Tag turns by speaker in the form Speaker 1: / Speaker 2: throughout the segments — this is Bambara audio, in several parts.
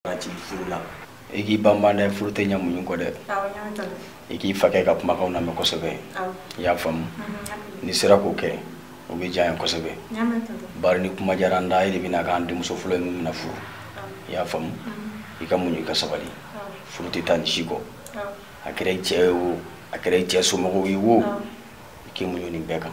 Speaker 1: ka ci furu la i k'i banban dɛ furu tɛ ɲɛ muɲu kɔ dɛ i k'i fakɛ ka kumakanw lamɛn kosɛbɛ i y'a faamu mm-hmm. n'i sera k'o kɛ o bɛ diya an ye kosɛbɛ bari ni kuma diyara an da e de bɛna k'an denmuso fɔlɔ ye min bɛna furu i y'a faamu mm-hmm. i ka muɲu i ka sabali furu tɛ taa nin si kɔ a kɛra i cɛ ye o a kɛra i cɛ somɔgɔw ye wo i k'i muɲu nin bɛɛ kan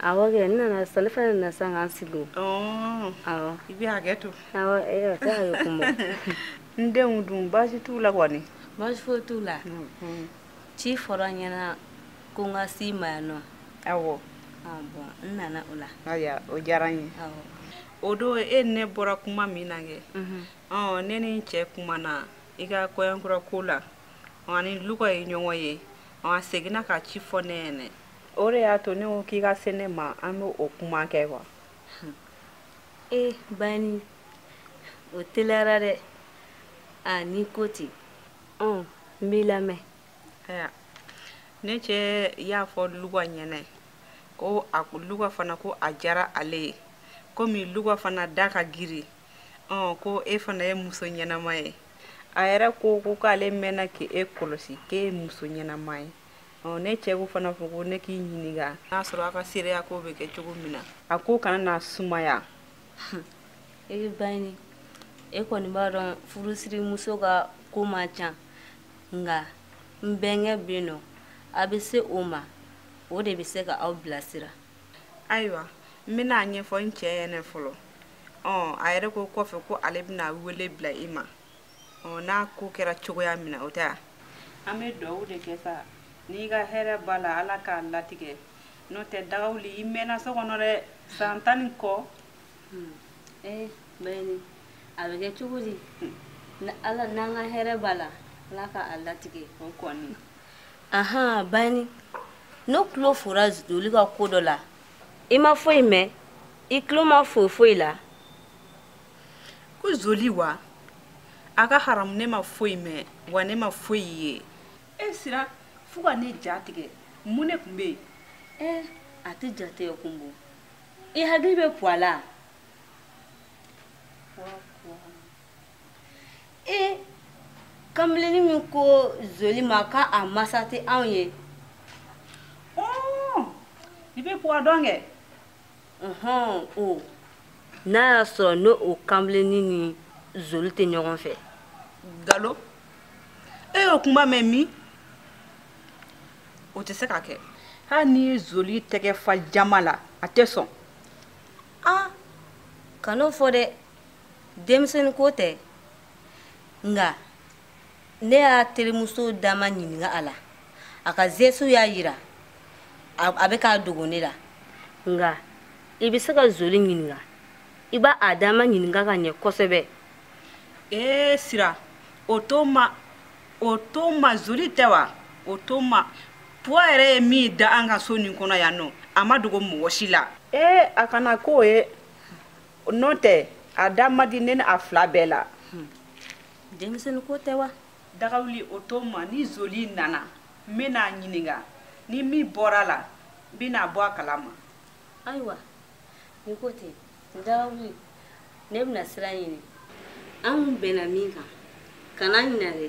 Speaker 2: awɔ kɛ n
Speaker 3: nana sisan ne fana nana sisan k'an sigi o
Speaker 2: awɔ i bɛ hakɛ to awɔ ee a
Speaker 3: tɛ hakɛ kun bɔ n denw
Speaker 2: dun baasi t'u la kɔni baasi foyi t'u la
Speaker 3: ci fɔra n ɲɛna ko n ka s'i ma yan nɔ
Speaker 2: awɔ bɔn
Speaker 3: n nana o la ayiwa o diyara n
Speaker 2: ye awɔ
Speaker 3: o don
Speaker 2: e ni ne bɔra kuma min na kɛ ɔ ne ni n cɛ kumana i ka kɔɲɔkura ko la a ni luga ye ɲɔgɔn ye a seginna ka ci fɔ ne ɲɛnɛ o de y'a to ne ko k'i ka se ne ma an bɛ o kuma kɛ wa
Speaker 3: ee bayini o teliyara dɛ a n'i ko ten ɔn n b'i lamɛn ayiwa
Speaker 2: ne cɛ y'a fɔ luga ɲɛna ko a luga fana ko a diyara ale ye komi luga fana da ka giri ɔn ko e fana ye muso ɲɛnama ye a yɛrɛ ko ko k'ale mɛnna k'e kɔlɔsi k'e ye muso ɲɛnama ye ɔ ne cɛ ko fana fɔ ko ne k'i ɲininka n'a sɔrɔ a ka seereya ko bɛ kɛ cogo min na a ko kana na sumaya e bɛ bayini
Speaker 3: e kɔni b'a dɔn furusirimuso ka ko man ca nka n bɛnkɛ bɛ yen nɔ a bɛ se o ma o de bɛ se ka aw bilasira ayiwa
Speaker 2: n bɛna a ɲɛfɔ n cɛ ɲɛna fɔlɔ ɔ a yɛrɛ ko kɔfɛ ko ale bɛna wele bila i ma ɔ n'a ko kɛra cogoya min na o tɛ an bɛ dugawu de kɛ sa n'i ka hɛrɛ b'a la ala k'a latigɛ n'o tɛ dagawuli i mɛnna so kɔnɔ dɛ san tan ni kɔ hmm. ee
Speaker 3: bayini a bɛ kɛ cogo di hmm. ala n'an ka hɛrɛ b'a la ala k'a latigɛ o
Speaker 2: kɔni
Speaker 3: ahan bayini n'aw tulo fora zoli ka ko dɔ la i ma foyi mɛn i tulo ma fo foyi la
Speaker 2: ko zoli wa a ka haramu ne ma foyi mɛn wa ne ma foyi ye e sera fo ka ne ja tigɛ mun ne tun bɛ yen ɛ a
Speaker 3: tɛ ja tigɛ kun bɔ i hakili bɛ puwa la e kanbelennin min ko zoli ma ka a masa tɛ anw ye
Speaker 2: i bɛ puwa dɔn kɛ
Speaker 3: o n'a y'a sɔrɔ n'o o kanbelennin ni zoli tɛ ɲɔgɔn fɛ galo
Speaker 2: e y'o kuma mɛn min o tɛ se ka kɛ hali n'i ye zoli tɛgɛ fa jama la a tɛ sɔn
Speaker 3: a kan'o fɔ dɛ denmisɛnnin ko tɛ nka ne y'a terimuso dama ɲininka a la a ka zesu y'a yira a bɛ k'a dogo ne la nka i bɛ se ka zoli ɲininka i b'a a dama ɲininka ka ɲɛ kosɛbɛ ee
Speaker 2: sira o tuma o tuma zoli tɛ wa o tuma buwa yɛrɛ ye min da an ka so nin kɔnɔ yan nɔ a ma dogo mɔgɔ si la ee a kana k'o ye n'o tɛ a da ma di ne ni a fila bɛɛ la
Speaker 3: denmisɛnnin ko tɛ wa dagawuli o
Speaker 2: tuma ni zoli nana n bɛna a ɲininka ni min bɔra a la n bɛna a bɔ a kala ma
Speaker 3: ayiwa ni ko tɛ dagawuli ne bɛna sira ɲini an bɛnna min kan kana ɲinɛ dɛ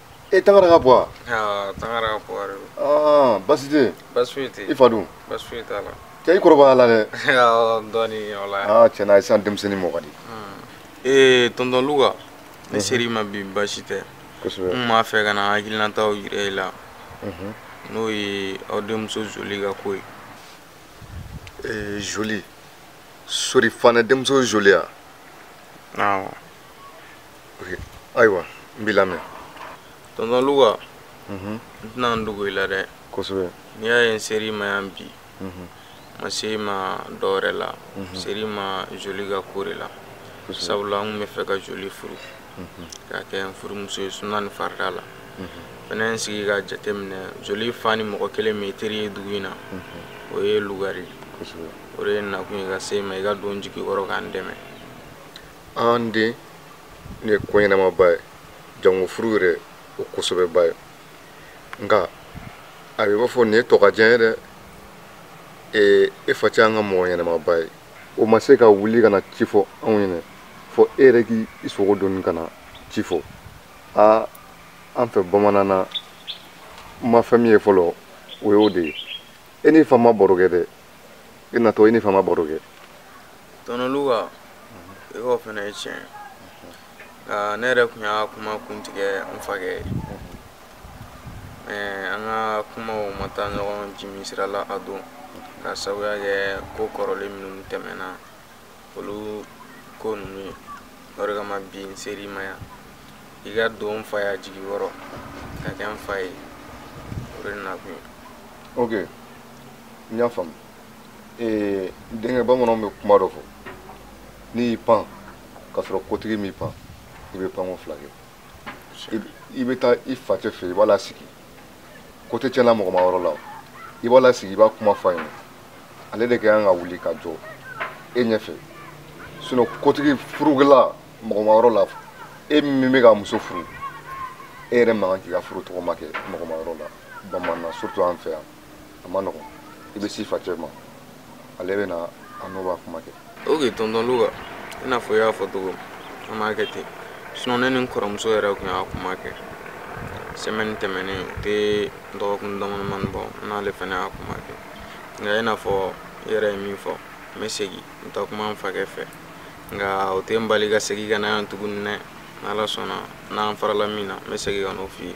Speaker 4: e
Speaker 5: tangara ka buwa tangara ka
Speaker 4: buwa de don basi tɛ yen
Speaker 5: basi foyi tɛ yen i fa
Speaker 4: dun basi foyi
Speaker 5: t'a
Speaker 4: la cɛ i kɔrɔbayala dɛ
Speaker 5: dɔɔnin o
Speaker 4: la tiɲɛ na sisan denmisɛnnin
Speaker 5: mɔ ka di ee tɔntɔn luka
Speaker 4: ne ser'i ma bi basi tɛ kosɛbɛ n b'a
Speaker 5: fɛ ka
Speaker 4: na hakilinataw yira i la n'o ye aw denmuso zoli ka ko ye ee zoli
Speaker 5: sori fanɛ denmuso zoli a awɔ ayiwa n b'i lamɛn
Speaker 4: tɔntɔn luka n tɛna n dogo i la dɛ kosɛbɛ n'i y'a
Speaker 5: ye n ser'i
Speaker 4: ma yan bi n ma se i ma dɔ wɛrɛ la n ser'i ma joli ka ko de la sabula n tun b'a fɛ ka joli furu k'a kɛ n furumuso ye suna ni farida la fɛnɛ n sigi ka jate minɛ joli fa ni mɔgɔ kelen min ye teri ye dugu in na o ye luka de ye o de ye n nakun ye ka se i ma i ka don n jigi kɔrɔ ka n dɛmɛ
Speaker 5: an den nin ye ko ɲɛnamaba ye jango furu yɛrɛ o ko sɛbɛba ye nka a bɛ b'a fɔ nin ye tɔgɔcɛn ye dɛ ee e facɛ an ka mɔgɔ ɲɛnamaba ye o ma se ka wuli ka na ci fɔ anw ɲɛna fɔ e yɛrɛ k'i sogo doni ka na ci fɔ aa an fɛ bamanan na n ma fɛn min ye fɔlɔ o y'o de ye e n'i fa ma baro kɛ dɛ i natɔ i n'i fa ma baro kɛ tɔntɔn
Speaker 4: luka i k'o fana ye tiɲɛ nka ne yɛrɛ tun y'a kuma kun tigɛ n fakɛ ye mɛ an ka kumaw ma taa ɲɔgɔn jimi sira la a don k'a sabuya kɛ ko kɔrɔlen minnu tɛmɛna olu ko ninnu ye o de kama bi n ser'i ma yan i ka don n faya jigi kɔrɔ ka kɛ n fa ye o de nakun ye ok
Speaker 5: n y'a faamu ee denkɛ bamananw bɛ kuma dɔ fɔ n'i y'i pan k'a sɔrɔ kotigi m'i pan i bɛ panko fila kɛ i bɛ taa i facɛ fɛ i b'a lasigi ko tɛ tiɲɛna mɔgɔ ma yɔrɔ la i b'a lasigi i b'a kuma fɔ a ɲɛna ale de ka kan ka wuli ka jɔ e ɲɛfɛ sinon kotigi furukɛla mɔgɔ ma yɔrɔ la e min bɛ ka muso furu e yɛrɛ man kan k'i ka furu tɔgɔma kɛ mɔgɔ ma yɔrɔ la bamanan na surtout an fɛ yan a man nɔgɔn i bɛ s'i facɛ ma ale bɛ na a n'o b'a kuma kɛ ok tɔntɔn
Speaker 4: luka i n'a fɔ i y'a fɔ cogo an b'a kɛ ten sinon ne ni n kɔrɔmuso yɛrɛ tun y'a kuma kɛ semaine tɛmɛnen o tɛ dɔgɔkun damadamani bɔ n n'ale fana y'a kuma kɛ nka i n'a fɔ i yɛrɛ ye min fɔ n bɛ segin n taa kuma n fakɛ fɛ nka o tɛ n bali ka segin ka na yan tuguni dɛ n'ala sɔnna n'an farala min na n bɛ segin ka n'o f'i ye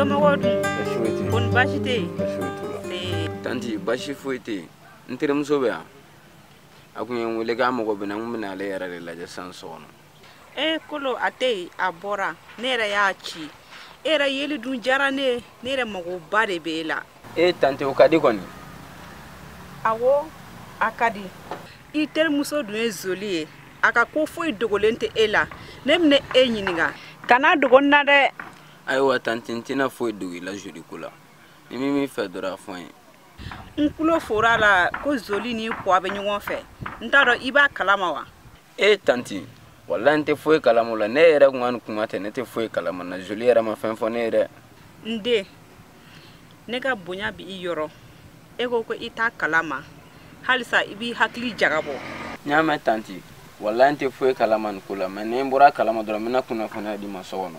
Speaker 2: somɔgɔw dun kɔni baasi tɛ yen tanti
Speaker 6: baasi foyi tɛ yen n terimuso bɛ yan a tun ye n wele k'a mago bɛ n na n tun bɛna ale yɛrɛ de lajɛ sisan so kɔnɔ e kolo a tɛ
Speaker 2: yen a bɔra ne yɛrɛ y'a ci e yɛrɛ yeli dun diyara ne ye ne yɛrɛ magoba de b'e la e tante o ka di
Speaker 6: kɔni
Speaker 2: awo a ka di i terimuso dun ye zoli ye a ka ko foyi dogolen tɛ e la ne bɛna e ɲininka kan'a dogo n na dɛ ayiwa
Speaker 6: tante n tɛna foyi dogo i la zoli ko la ni min b'i fɛ dɔrɔn a fɔ n ye n tulo
Speaker 2: fora a la ko zoli ni kɔ bɛ ɲɔgɔn fɛ n t'a dɔn i b'a kalama wa e tanti
Speaker 6: walayi n tɛ foyi kalama la ne yɛrɛ kun ka nin kuma tɛ ne tɛ foyi kalama na joli yɛrɛ ma fɛn fɔ ne ye dɛ n den
Speaker 2: ne ka bonya bɛ i yɔrɔ e ko ko i t'a kalama halisa i b'i hakili jagabɔ n y'a mɛn
Speaker 6: tanti walayi n tɛ foyi kalama nin ko la mais ni n bɔra a kalama dɔrɔn n bɛna kunnafoniya d'i ma so kɔnɔ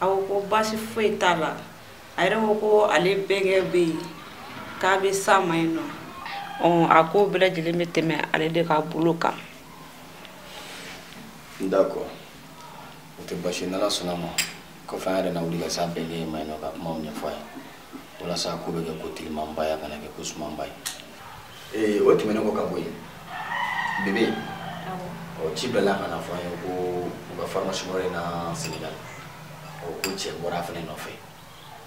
Speaker 2: a ko ko baasi foyi t'a la a yɛrɛ ko ko ale bɛnkɛ bɛ yen k'a bɛ s'a ma yen nɔ a ko bɛɛ lajɛlen bɛ tɛmɛ ale de ka bolo kan
Speaker 1: d'accord o tɛ baasi n'ala sɔnna a ma kɔfɛ an yɛrɛ na wuli ka s'a bɛnkɛ ma yen nɔ ka kumaw ɲɛfɔ a ye walasa ko bɛ kɛ ko telimanba ye a kana kɛ ko sumanba ye ee o tɛmɛnen kɔ ka bɔ yen bebe ɔ ci bilala ka na fɔ an ye ko u ka formation yɔrɔ la senegal ɔ ko cɛ bɔra a fana nɔfɛ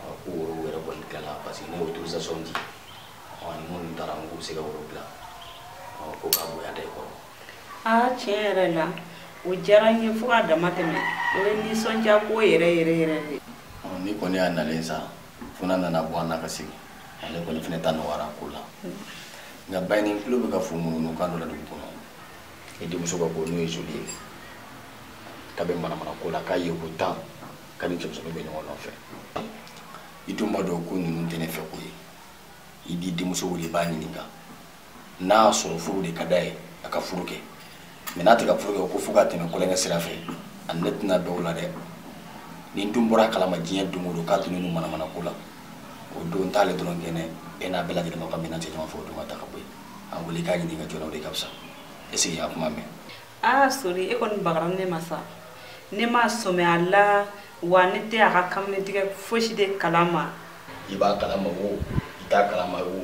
Speaker 1: ɔ ko woro yɛrɛ bɔli tilala parce que ne y'o autorisation di ɔ ni minnu taara n k'u bɛ se ka woro bila ɔ ko k'a bonya da i kɔrɔ aa tiɲɛ yɛrɛ
Speaker 2: la o diyara n ye fo k'a dama tɛmɛ o ye nisɔndiya ko yɛrɛ yɛrɛ yɛrɛ de ɔ ni kɔni y'a
Speaker 1: nalen sa fo n'a nana bɔ an na ka segin ale kɔni fɛnɛ ta nɔgɔyara ko la nka ba nin tulo bɛ ka fo ŋunuŋunu kan dɔ la dugu kɔnɔ i denmuso ka ko n'o ye zoli ye k'a bɛ manamana ko la k'a ye ko tan k'a ni cɛmisɛnninw bɛ ɲɔgɔn nɔfɛ i dun b'a dɔn ko ninnu tɛ ne fɛ ko ye i t'i denmuso wele i b'a ɲininka n'a y'a sɔrɔ furu de ka d'a ye a ka furu kɛ mɛ n'a tɛ ka furu kɛ ko fo ka tɛmɛ kolonkɛ sira fɛ a ni ne tɛna bɛn o la dɛ ni n dun bɔra a kalama diɲɛ don o don k'a tun ninnu manamana ko la o don t'ale dɔrɔn kɛnɛ e n'a bɛɛ lajɛlen b'a ka minɛn cɛ ɲɔgɔn fɛ o don ka taa ka bɔ yen a wele k'a ɲininka joona o de ka fisa ɛsikɛ i y'a kuma mɛn aa sori e kɔni
Speaker 2: bagara ne ma sa ne ma sɔmɛ a la wa ne tɛ a ka kamalentigɛ fosi de kalama i b'a kalama
Speaker 1: wo i t'a kalama wo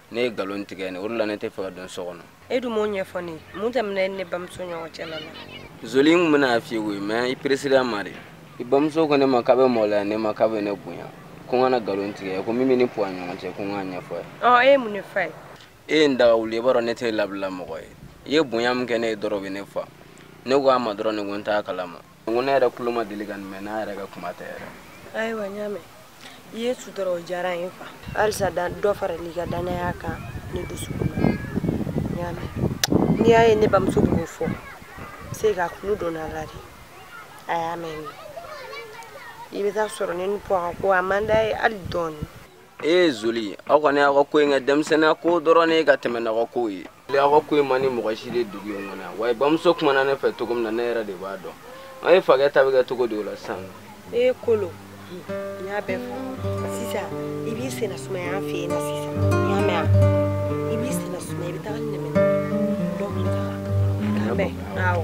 Speaker 6: ne ye nkalon tigɛ ne o de la ne tɛ fɛ ka don so kɔnɔ e dun m'o ɲɛfɔ
Speaker 3: ne ye mun tɛmɛna e ni ne bamuso ɲɔgɔn cɛ la la zoli n tun bɛna
Speaker 6: a f'i ye koyi mɛ i peresira ma de i bamuso ko ne ma k'a bɛ maloya ne ma k'a bɛ ne bonya ko n kana nkalon tigɛ ko min b'e ni puwa ɲɔgɔn cɛ ko n k'a ɲɛfɔ a ye ɔ e ye mun de f'a
Speaker 3: ye e ye n daga
Speaker 6: wuli i b'a dɔn ne tɛ labila mɔgɔ ye i ye bonya min kɛ ne ye dɔrɔn o bɛ ne fa ne ko a ma dɔrɔn ne ko n t'a kalama n ko ne yɛrɛ tulo ma deli ka nin mɛn n'a yɛrɛ ka kuma tɛ yɛrɛ ayiwa n y'a
Speaker 3: mɛn i ye n sutura o diyara n ye fo halisa dɔ faral'i ka danaya kan ne dusukun na n y'a mɛn n'i y'a ye ne bamuso b'o fɔ siga kulu donna a la de a y'a mɛn i bɛ t'a sɔrɔ ne ni puwa ka ko a man d'a ye hali dɔɔnin ee zoli aw
Speaker 6: kɔni aw ka ko in kɛ denmisɛnninya ko dɔrɔn de ye ka tɛmɛ n'aw ka ko ye aw ka ko in man di mɔgɔ si ye dugu in kɔnɔ yan wa bamuso kumana ne fɛ cogo min na ne yɛrɛ de b'a dɔn an ye fakɛ ta bɛ kɛ cogo di o la sisan ee kolo
Speaker 3: n y'a bɛɛ fɔ sisan i b'i senna sumaya an fɛ yen na sisan i y'a mɛn a i b'i senna sumaya i bɛ taga ni nɛmɛ dɔ b'i taga k'a bɛn awɔ